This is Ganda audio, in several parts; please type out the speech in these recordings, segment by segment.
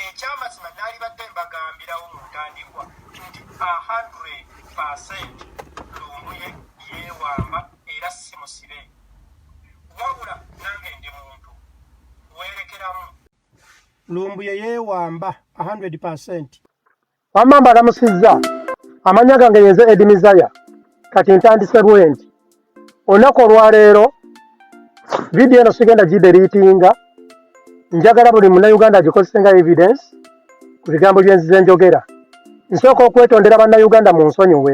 ekyamazima nalibadde mbagambirawo mu ntandikwa nti 100 lumbuye yewamba era si musibe wabula nange ndi muntu weerekeramu lumbuye yewamba 100 Wamma mbalamusizza amanya gange yenze Edi Mizaya kati ntandise bwenti olunaku olwaleero vidiyo eno sigenda gideriitinga njagala buli munauganda agikozese nga evidence ku bigambo byenzize njogera nsooka okwetondera bannauganda mu nsonyiwe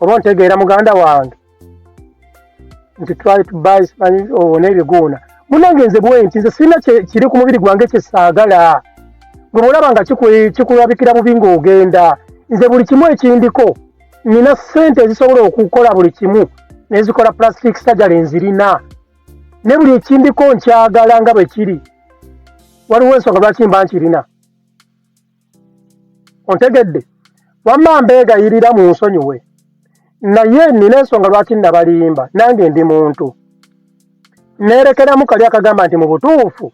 oba ontegeera muganda wange nti try to buy spanish owo n'ebiguuna munange nze bwenti nze sirina kiri ku mubiri gwange kyesaagala gwe bwolaba nga kikulabikira bubi ng'ogenda nze buli kimu ekindiko nina ssente ezisobola okukola buli kimu nezikola plastic surgery nzirina ne buli ekindiko nkyagala nga bwe kiri waliwo ensonga lwaki mba nkirina ontegedde wamma mbeegayirira mu nsonyiwe naye nina ensonga lwaki nabalimba nange ndi muntu neerekeramu kali akagamba nti mu butuufu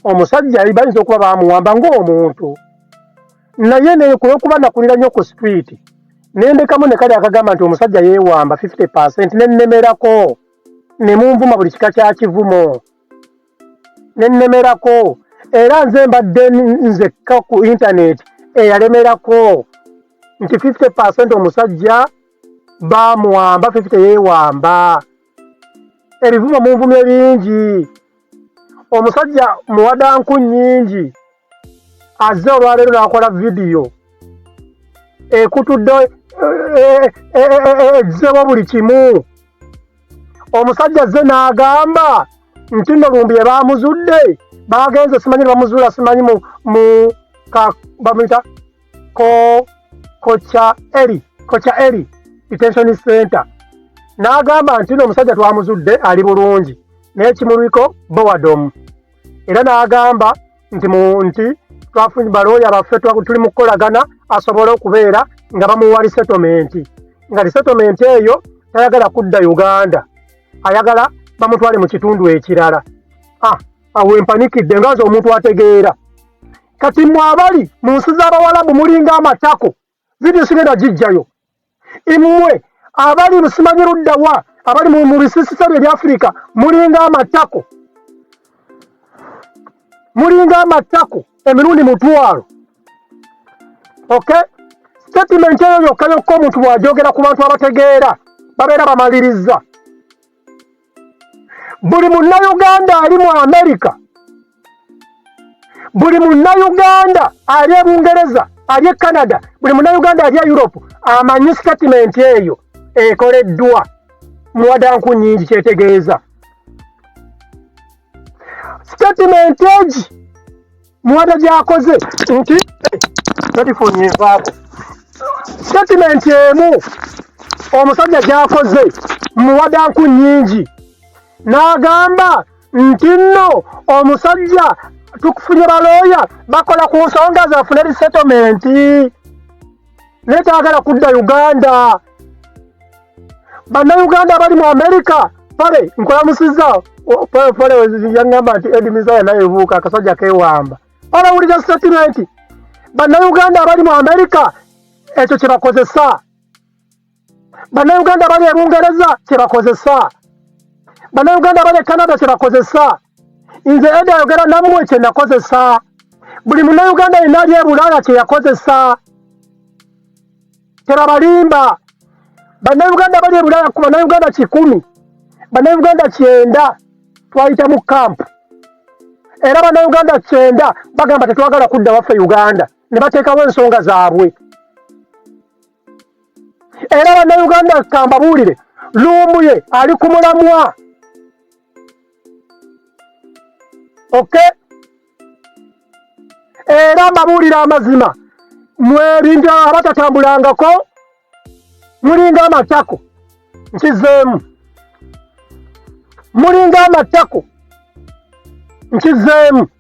omusajja bayinza okuba bamuwamba ng'omuntu naye nekulwokuba nakulira nnyo ku street nendekamu ne kali akagamba nti omusajja yeewamba 50 percent nennemerako ne munvuma buli kika kya kivumo nennemerako era nze mbadde nzekka ku intaneti eyalemerako nti 50 percent omusajja bamuwamba 50 yewamba ebivumo munvumye bingi omusajja muwadanku nyingi azze olwaleero n'akola vidiyo ekutudde egizewo eh, eh, eh, buli kimu omusajja azze n'agamba nti no lumbi ebaamuzudde baagenze simanyi nebamuzuula simanyi mu bamuyita kocha eri kocha eri detention center n'agamba nti no omusajja twamuzudde ali bulungi naye kimulwiko bowadomu era n'agamba nti nti twafunye balooya baffe tuli mu kukolagana asobole okubeera nga bamuwa lisetomenti nga lisetomenti eyo tayagala kudda uganda ayagala bamutwale mu kitundu ekirala ah, awo empanikidde nga nze omuntu ategeera kati mwabali mu nsi z'abawalabu mulinga amatako Video sigenda gijjayo. Imwe abali musimanyi ludda wa abali mu mu bisisita bye Afrika mulinga amatako. Mulinga amatako emirundi mutwalo. Okay? Statement eyo yokka yokka omuntu bw'ajogera ku bantu abategeera babeera bamalirizza. buli munnayuganda ali mu amerika buli munnayuganda ali e bungereza ali e canada buli munnayuganda ali e europe amanyi sitatimenti eyo ekoleddwa muwadanku nyingi kyetegeeza statement egi muwada gyakoze nti telefoni evaako statement emu omusajja gyakoze muwada nku nyingi n'agamba nti nno omusajja tukufunye balooya bakola ku nsonga zafune resettlement naye tayagala kudda Uganda. Bannayuganda abali mu Amerika pale nkulamusizza pale yaŋŋamba nti Edi Mizaya naye buuka akasajja keewamba pale wulira sitatimenti bannayuganda abali mu Amerika ekyo kye bakozesa bannayuganda bali e bungereza kyebakozesa bannayuganda bali e canada kyebakozesa nze eda ayogera namwe kyenakozesa buli munayuganda yenna ali e bulaaya kyeyakozesa tebabalimba bannayuganda bali e bulaaya ku bannayuganda kikumi bannayuganda kyenda twayita mu kampu era bannayuganda kyenda bagamba tetwagala kudda waffe uganda ne bateekawo ensonga zaabwe era bannayuganda kambabuulire lumbuye ali ku mulamwa oke era mbabuulira amazima mwelinga abatatambulangako mulinga amatako nkizeemu mulinga amatako nkizeemu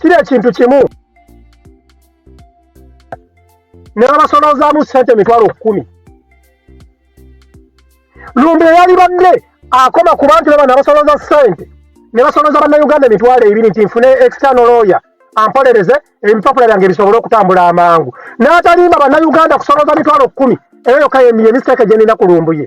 kiri ekintu kimu nebabasolozaamu sente emitwalo kumi lumbe yali badde akoma ku bantu baba nabasoloza sente nebasoloza bannauganda emitwalo ebiri nti nfune external lawyer ampolereze ebipapula byange bisobole okutambula amangu n'atalimba bannauganda kusoloza mitwalo kumi eyo yokka yemisteeke gyenina ku lumbuye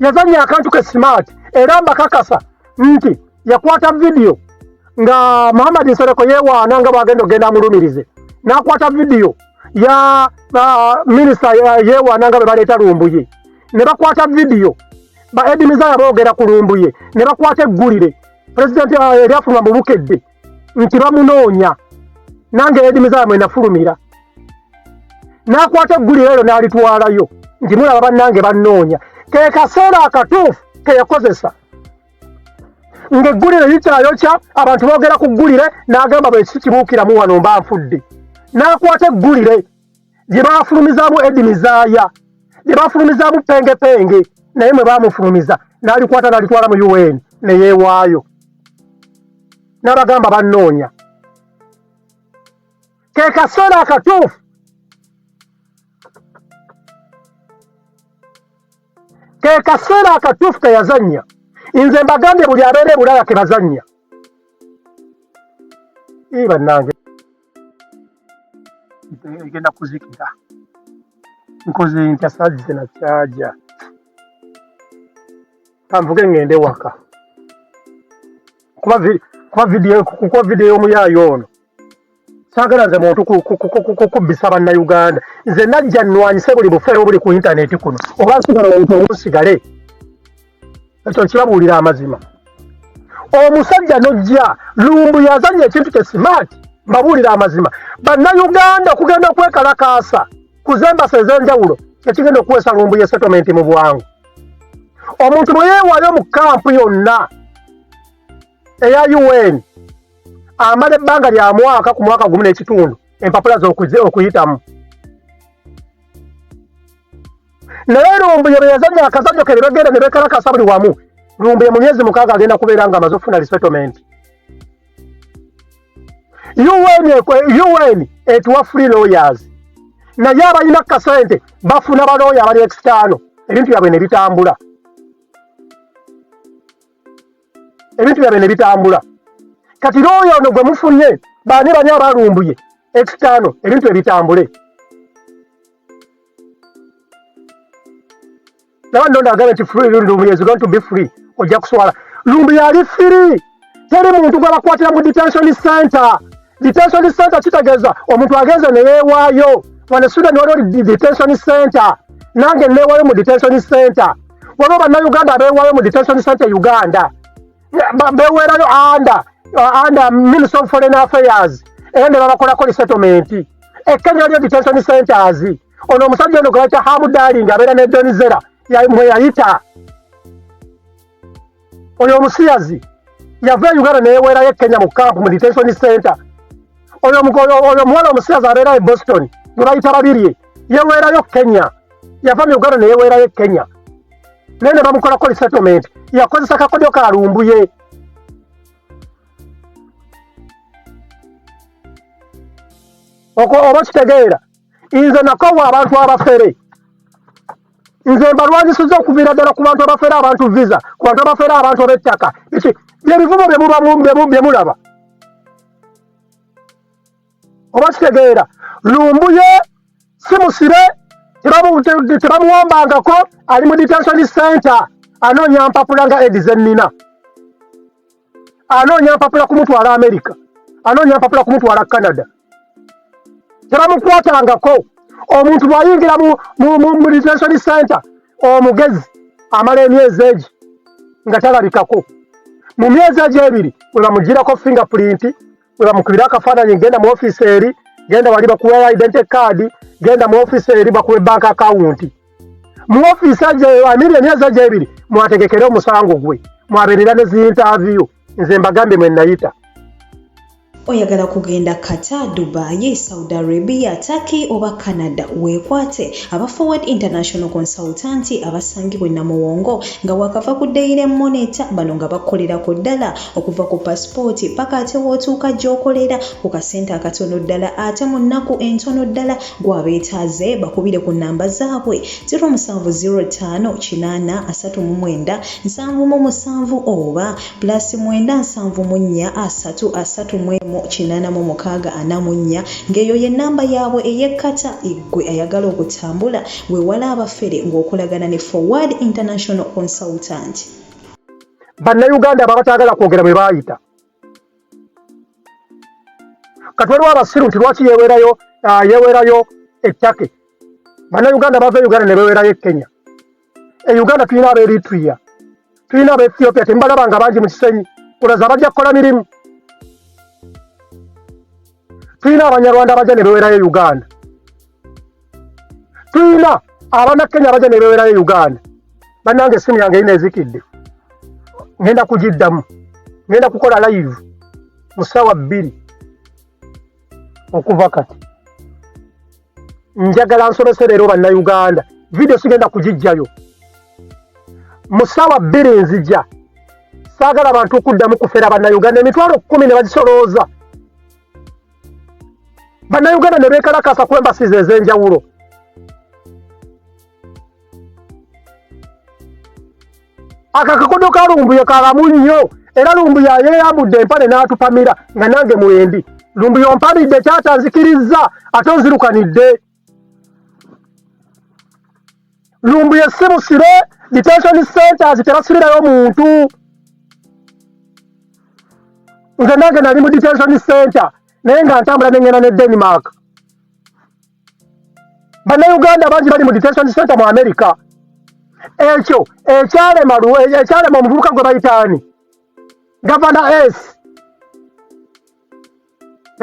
yazannya akantu ke smart era mbakakasa nti yakwata vidiyo nga muhammad nsereko yewaana nga bwagenda okugenda amulumirize nakwata vidiyo ya uh, minisita yewaana nga bwe baleeta lumbuye ne bakwata vidiyo ba edimiza yaboogera ku lumbuye ne bakwata eggulire pulezidenti uh, eryafunwa mu bukedde nti bamunoonya nange edimi zamwe nafulumira nakwata eggulire eryo nalitwalayo nti mulaba bannange bannoonya ke kaseera akatuufu keyakozesa ng'eggulire likyayokya abantu boogera ku ggulire n'agamba bwe kikibuukiramu wano mba nfudde n'akwata eggulire gye baafulumizaamu Edi Mizaaya, gye baafulumizaamu Penge Penge, naye mwe baamufulumiza n'alikwata n'alitwala mu UN ne yeewaayo n'abagamba bannoonya. Ke kaseera akatuufu ke kaseera akatuufu ke yazannya. Nze mbagambye buli abeera e Bulaaya ke bazannya. Ii bannange. nze egenda kuzikira nkoze ntya saazi zina kyaja kanvuge ngende waka kuba vi- kuba vidiyo kuba vidiyo y'omuyaayi ono saagala nze muntu ku- ku- ku- ku- ku- kubbisa bannayuganda nze najja nnwanyise buli bufere obuli ku intaneti kuno oba nsigala omuntu omu nsigale ekyo nkibabuulira amazima omusajja nojja lumbu yazanya ekintu kye smart mbabuulira amazima bannayuganda okugenda okwekalakaasa kuzembasa ez'enjawulo kyekigenda okuweesa lumbu ye settlement mu bwangu omuntu bwe yeewaayo mu kampu yonna eya un amala ebbanga lya mwaka ku mwaka gumu n'ekitundu empapula z'okuyitamu naye lumbuye bwe yazannya akazanyo ke ne bagenda ne bekalakasa buli wamu lumbuye mu myezi mukaaga agenda kubeera nga amaze okufuna resettlement un etuwa free lawyers naye abalina kasente bafuna balooya abali ekitaano ebintu byabwe ne bitambula ebintu byabwe ne bitambula kati looya ono gwe mufunye baani bani abalumbuye ekitaano ebintu ebitambule nawe nonda agambye nti free lumbuye is going to be free ojja kuswala lumbuye ali free teri muntu gwebakwatira mu detention center detention center kitegeeza omuntu agenze neyewaayo wane sudan waliwo detention center nange newayo mu detention center waliwo bannayuganda abeewaayo mu detention center uganda bewerayo anda anda minister of foreign affairs era ne babakolako resettlement ekkenya lyo detention centers ono omusajja ono gwebakya hamu darling abeera ne donizera mwe yayita oyo omusiyazi yava e uganda neyewerayo ekkenya mu camp mu detention center oyo omuwala omusiyazi abeera e boston gwebayita babirye yewerayo kenya yava mu uganda neyeweerayo e kenya naye nebamukolako resettlement yakozesa kakodyo ka lumbuye okwo oba kitegeera nze nakowa abantu abafere nze mbalwanyisiza okuviira ddala ku bantu abafere abantu visa ku bantu abafere abantu ab'ettaka byebivumo bye mulaba oba kitegeera lumbuye si musibe tebamuwambangako ali mu detention center anoonya mpapula nga edi zennina anoonya mpapula kumutwala america anoonya mpapula kumutwala canada tebamukwatangako omuntu bwayingira mu detention center omugezi amala emyezi egi nga talabikako mu myezi egi ebiri webamugirako fingerprint webamukubira akafaananyi genda mu ofiisi eri genda wali bakuwa identity card genda mu ofiisi eri bakuwe bank account mu ofiisi amiri emyezi ajo ebiri mwategekere omusango gwe mwaberera ne ziintaviyu nze mbagambye mwe nayita oyagala kugenda kata dubai saudi arabia turkey oba canada weekwate aba forward international consultanti abasangibwa enamuwongo nga wakava ku dayire moneta bano nga bakolera ku ddala okuva ku pasipooti paka ate wootuuka gy'okolera ku kasente akatono ddala ate mu nnaku entono ddala gw'abeetaaze bakubire ku nnamba zaabwe 07058397 oba pulasi 97743846 ng'eyo ye nnamba yaabwe ey'ekkata eggwe ayagala okutambula weewala abafere ng'okolagana ne forward international consultant bannayuganda abo abataagala kwogera bwe baayita kati waliwo abasiru nti lwaki yewerayo ah, yewerayo ettake bannayuganda bava e uganda ne bewerayo e kenya e uganda tulina aba eritria tulina aba ethiopia temubalaba nga bangi mu kisenyi olaza bajja kukola mirimu tulina abanyarwanda bajja ne bewerayo e uganda tuyina abana kenya abaja nebewerayo uganda banange esimu yange yina ezikidde ngenda kugiddamu ngenda kukola live mu sawa bbiri okuva kati njagala nsomese leero bannauganda vidiyo sigenda kugijjayo mu sawa bbiri nzija saagala bantu okuddamu kufera bannauganda emitwalo kkumi ne bagisolooza bannayuganda ne beekalakaasa ku embasiz ez'enjawulo akakakodo ka lumbuye kalamu nnyo era lumbuye yeyambudde empale n'atupamira nga nange mwendi lumbuye ompamidde kyatanzikirizza ate onzirukanidde lumbuye si busibe detention centers tebasibirayo muntu nze nange nali mu detention center naye nga ntambula nengenda ne denmark bannayuganda bangi bali mu detention center mu america ekyo ekyalema ekyalema omuvubuka gwe bayitaani gavana s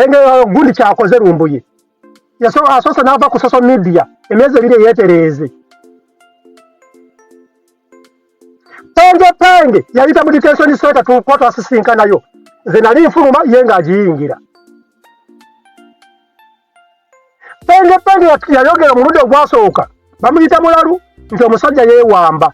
engeyo gundi kyakoze lumbuye asoose n'ava ku social media emyezi ebiri eyetereeze penge penge yayita mu detention center tukuba twasisinkanayo nze nali nfuluma ye ng'agiyingira penge penge yayogera omulundi ogwasooka bamuyita mulalu nti omusajja yeewamba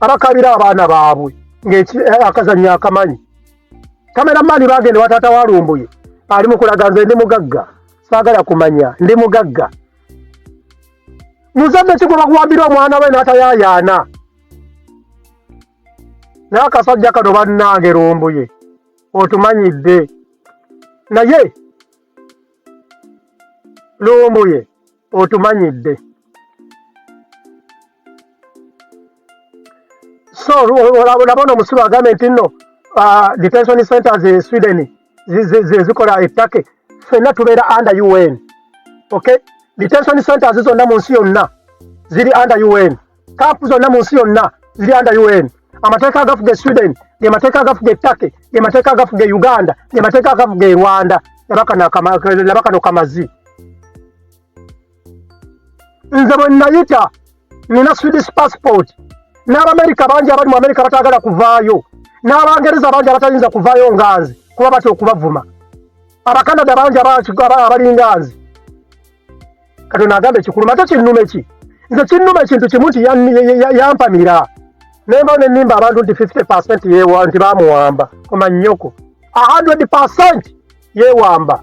abakabira abaana baabwe ngaakazanyo eh, akamanyi kamera maani bagenda wataata walumbuye ali mukulaga nze ndi mugagga saagala kumanya ndi mugagga muzadde kigwe bakuwambira omwana we natayayaana naye akasajja kano bannange lumbuye otumanyidde naye lumbuye otumanyidde so olabona omusiru agambye nti nno uh, detention centers e sweden zikola ettake fenna tubeera under un okay detention centers zonna mu nsi yonna ziri under un kaapu zonna mu nsi yonna ziri anda un amateeka agafuga e sweden ge mateeka agafuga e turkey ge mateeka agafuga e uganda ge mateeka agafuga e rwanda laba kano kamazi nze bwe nayita nina swedish passport n'abamerika bangi abali mu amerika batagala kuvaayo n'abangereza bangi abatayinza kuvaayo nganzi kuba batya okubavuma abakanada bangi abalinga nzi katonda agamba ekikuluma ate kinnuma eki nze kinnuma ekintu kimu nti yampamira nemba nenimba abantu nti 50 percent yewa nti bamuwamba koma nyoko 100 percent yewamba